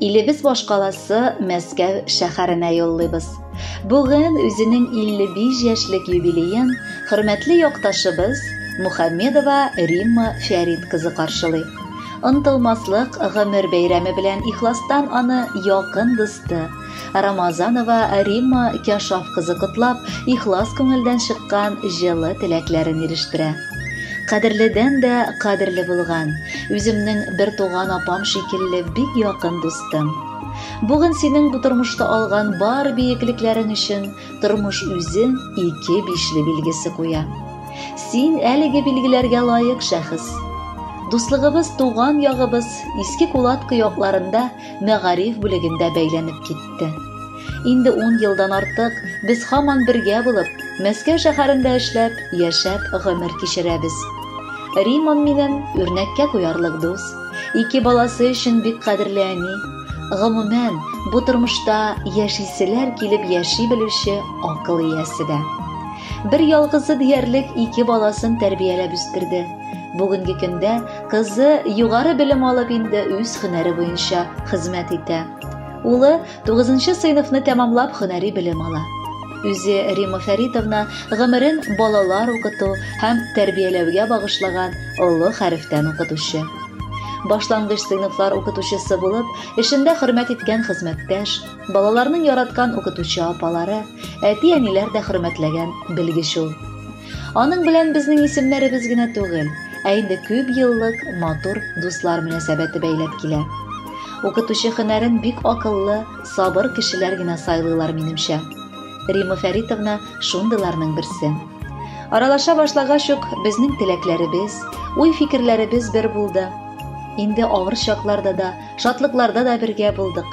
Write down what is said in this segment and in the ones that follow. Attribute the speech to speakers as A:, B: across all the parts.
A: Илебез башкаласы Мәскәү шәһәренә юллыйбыз. Бүген үзенең 55 яшьлек юбилеен хөрмәтле якташыбыз Мухаммедова Римма Фәрит кызы каршылый. Онтылмаслык гомер бәйрәме белән ихластан аны якын дусты Рамазанова Римма Кяшов кызы котлап, ихлас күңелдән чыккан җылы теләкләрен ирештерә. Кадерледән дә кадерле булган, үземнең бер туган апам шикелле бик якын дустым. Бүген синең бу тормышта алган бар биеклекләрең өчен тормыш үзе ике бишле билгесе куя. Син әлеге билгеләргә лаек шәхес. Дуслыгыбыз туган ягыбыз Иске Кулаткы якларында мәгариф бүлегендә бәйләнеп китте. Инде ун елдан артык без һаман бергә булып, Мәскәү шәһәрендә эшләп, яшәп гомер кичерәбез. Римон минем үрнәккә куярлык дус, ике баласы өчен бик кадерле әни, гомумән, бу тормышта яшиселәр килеп яши белүче акыл иясе дә. Бер ялгызы диярлек ике баласын тәрбияләп үстерде. Бүгенге көндә Кызы югары белем алып инде үз хөнәре буенча хезмәт итә. Улы 9 нчы сыйныфны тәмамлап хөнәри белем ала. Үзе Рима Фәритовна гомерен балалар укыту һәм тәрбияләүгә багышлаган олы хәрефтән укытучы. Башлангыч сыйныфлар укытучысы булып, эшендә хөрмәт иткән хезмәттәш, балаларның яраткан укытучы апалары, әти-әниләр дә хөрмәтләгән белгеч ул. Аның белән безнең исемнәребез генә түгел, ә инде күп еллык матур дуслар мөнәсәбәте бәйләп килә. Укытучы хөнәрен бик акыллы, сабыр кешеләр генә сайлыйлар, минемчә. Рима Фәритовна шундыйларның берсе. Аралаша башлагач ук безнең теләкләребез, уй-фикерләребез бер булды. Инде авыр чакларда да, шатлыкларда да бергә булдык.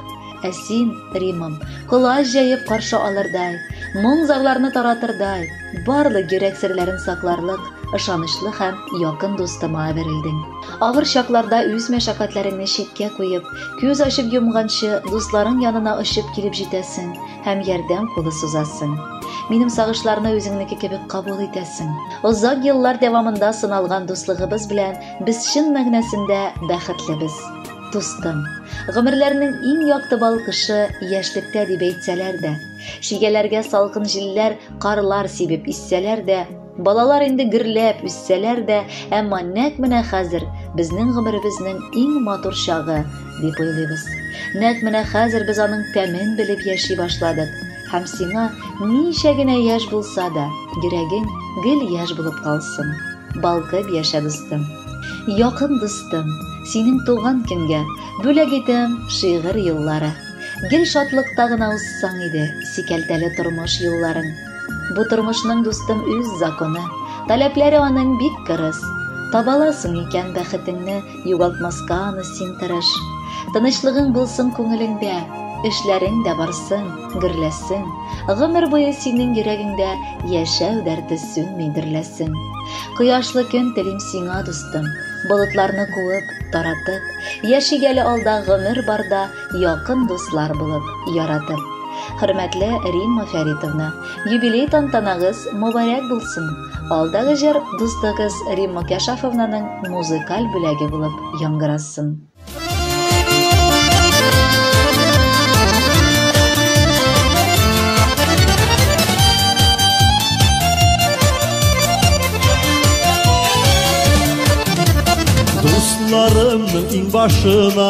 A: Ә син, Римам, колач җәеп каршы алырдай, моң-зарларны таратырдай, Барлык йөрәк серләрен сакларлык ышанычлы һәм якын дустыма әверелдем. Авыр чакларда үз мәшәкатьләреңне читкә куеп, күз ачып йомганчы дусларың янына очып килеп җитәсең һәм ярдәм кулы сузасың. Минем сагышларны үзеңнеке кебек кабул итәсең. Озак еллар дәвамында сыналган дуслыгыбыз белән без чын мәгънәсендә бәхетлебез. Дустым, гомерләрнең иң якты балкышы яшьлектә дип әйтсәләр дә, Шигәләргә салкын җилләр, карлар сибеп иссәләр дә, балалар инде гөрләп үссәләр дә, әмма нәкъ менә хәзер безнең гомеребезнең иң матур чагы, дип уйлыйбыз. Нәкъ менә хәзер без аның тәмен белеп яши башладык, һәм сиңа ничә генә яшь булса да, йөрәгең гел яшь булып калсын. Балкып яшә, дустым. Якын дустым, синең туган көнгә, бүләк итәм шигырь юллары. Гел шатлыкта гына узсаң иде Сикәлтәле тормыш юлларың. Бу тормышның, дустым, үз законы, Таләпләре аның бик кырыс. Табаласың икән бәхетеңне, Югалтмаска аны син тырыш. Тынычлыгың булсын күңелеңдә, Эшләрең дә барсын, гөрләсен. Гомер буе синең йөрәгеңдә Яшәү дәрте сүнми, дөрләсен. Кояшлы көн телим сиңа, дустым, Болытларны куып, таратып. Яшик әле алда, гомер барда, Якын дуслар булып, яратып. Хөрмәтле Римма Фәритовна, юбилей тантанагыз мобарәк булсын. Алдагы җыр дустыгыз Римма Кәшафовнаның музыкаль бүләге булып яңгырасын.
B: Дусларымның иң башына